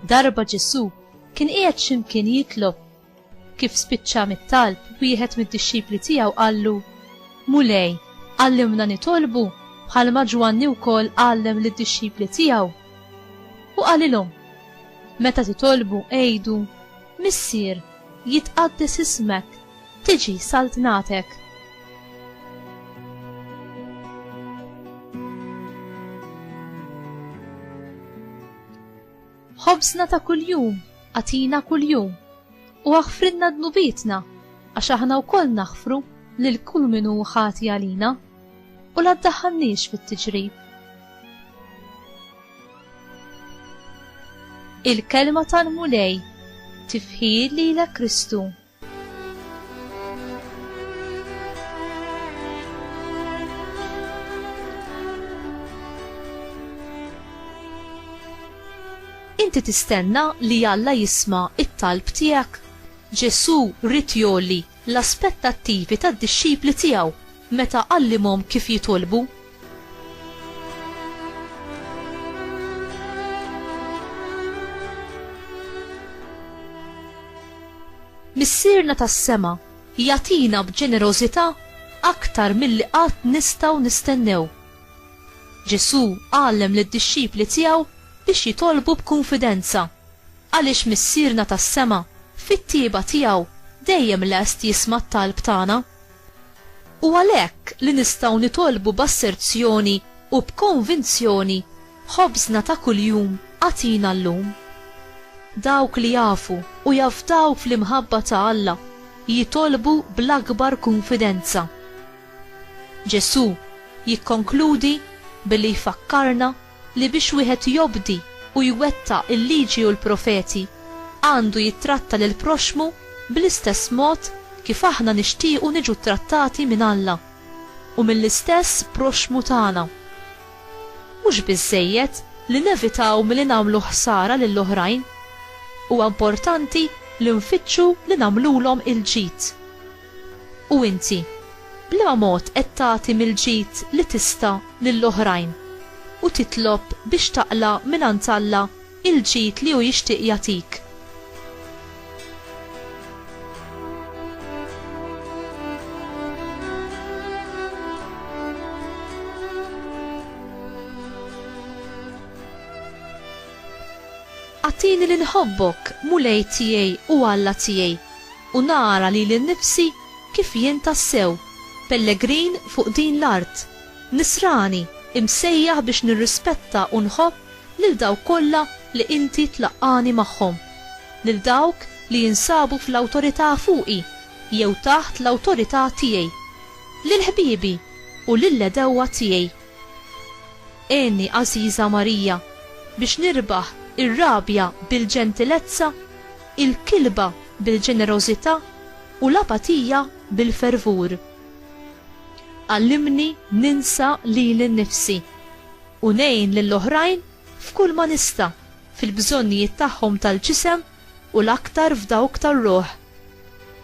Darba Ġesu kien qiegħed x'imkien jitlob. Kif spiċċa mit-talb, wieħed mid-dixxipli tiegħu qallu, Mulej, għallimna nitolbu bħalma Ġwanni wkoll għallem lid-dixxipli tiegħu. U qalilhom, Meta titolbu għidu, Missier, jitqaddes ismek, tiġi saltnatek. Ħobżna ta' kuljum agħtina kuljum u aħfrilna dnubietna għax aħna wkoll naħfru lil kull min hu ħati għalina u la ddaħħalniex fit-tiġrib. Il-kelma tal-Mulej tifħir lilek Kristu. Inti tistenna li Alla jisma' it-talb tiegħek? Ġesù rrid jolli l-aspettattivi tad-dixxipli tiegħu meta għallimhom kif jitolbu. Missierna tas-sema jatina b'ġenerożità aktar milli qatt nistgħu nistennew. Ġesù għallem lid-dixxipli tiegħu biex jitolbu b'kunfidenza għaliex Missierna tas-sema fit-tieba tiegħu dejjem lest jisma' t-talb tagħna. U għalhekk li nistgħu nitolbu b'asserzjoni u b'konvinzjoni, Ħobżna ta' kuljum agħtina llum. Dawk li jafu u jafdaw fl-imħabba ta' Alla jitolbu bl-akbar kunfidenza. Ġesù jikkonkludi billi jfakkarna li biex wieħed jobdi u jwettaq il-Liġi u l-Profeti għandu jittratta lill-proxxmu bl-istess mod kif aħna nixtiequ niġu ttrattati minn Alla u mill-istess proxxmu tagħna. Mhux biżżejjed li nevitaw milli nagħmlu ħsara lill-oħrajn, huwa importanti li nfittxu li nagħmlulhom il-ġid. U inti, b'liema mod qed tagħti mill-ġid li tista' lil oħrajn u titlob biex taqla' mingħand Alla l-ġid li hu jixtieq jagħtik? Agħtini li nħobbok, Mulej tiegħi u Alla tiegħi, u nara lili nnifsi kif jien tassew pellegrin fuq din l-art, nisrani imsejjaħ biex nirrispetta u nħobb lil dawk kollha li Inti tlaqqagħni magħhom, lil dawk li jinsabu fl-awtorità fuqi jew taħt l-awtorità tiegħi, lil ħbiebi u lill-għedewwa tiegħi. Għinni, Għażiża Marija, biex nirbaħ ir-rabja bil-ġentilezza il-kilba bil-ġenerożità u l-apatija bil-fervur. Għallimni ninsa lili nnifsi u ngħin lill-oħrajn f'kull ma nista' fil-bżonnijiet tagħhom tal-ġisem u l-aktar f'dawk tar-ruħ.